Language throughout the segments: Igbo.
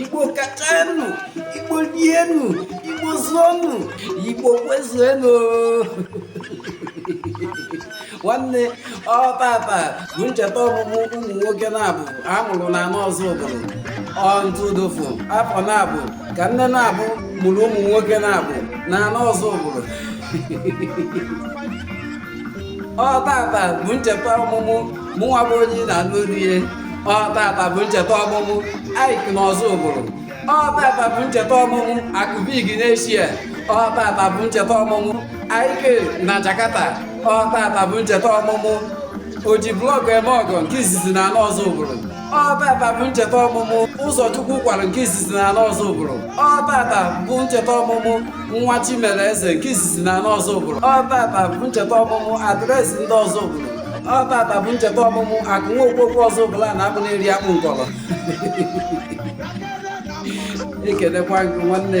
igbo kachanụ igbo rienụ igbo zụọnụ igbo kwezuenụ nwanne ọ tata bụ ncheta ọmụmụ ụmụ nwoke naabọ a mụrụ n'ana ọzụbụlụ ọntụdofu afọ naabọ ka nne naabọ mụrụ ụmụ nwoke naabọ n'ana ọzụbụlụ ọ tata bụ ncheta ọmụmụ mụnwa bụ onye na-anụ olu ihe ọ tata bụ ncheta ọmụmụ iyke na ọzụbụlụ ọ tata bụ ncheta ọmụmụ akụ big n'eshia ọ tata bụ ncheta ọmụmụ iyke na jakarta ọ tata bụ ncheta ọmụmụ oji blọkụ eme ọgọ nke izizi n'ana ọzụbụlụ ọ tata bụ ncheta ọmụmụ ụzọ chukwu kwara nke izizi n'ana ọzụbụlụ ọ tata bụ ncheta ọmụmụ nwa chi mere eze nke izizi n'ana ọzụbụlụ ọ tata bụ ncheta ọmụmụ address ndị ọzụbụlụ ọ tata bụ ncheta ọmụmụ akụ nwa okpokwu ọzụbụlụ a na-abụ na-eri akpụ nkọrọ ekelekwa gị nwanne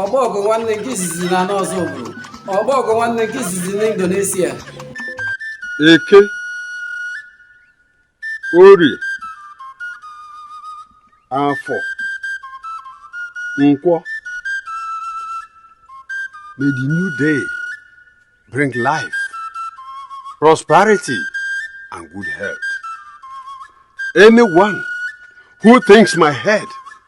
ọgba ọgụ nwanne nke izizi n'ana ọzụbụlụ ọgba ọgụ nwanne nke izizi na indonesia eke orie afọ nkwọ may the new day bring life prosperity and good health anyone who thinks my head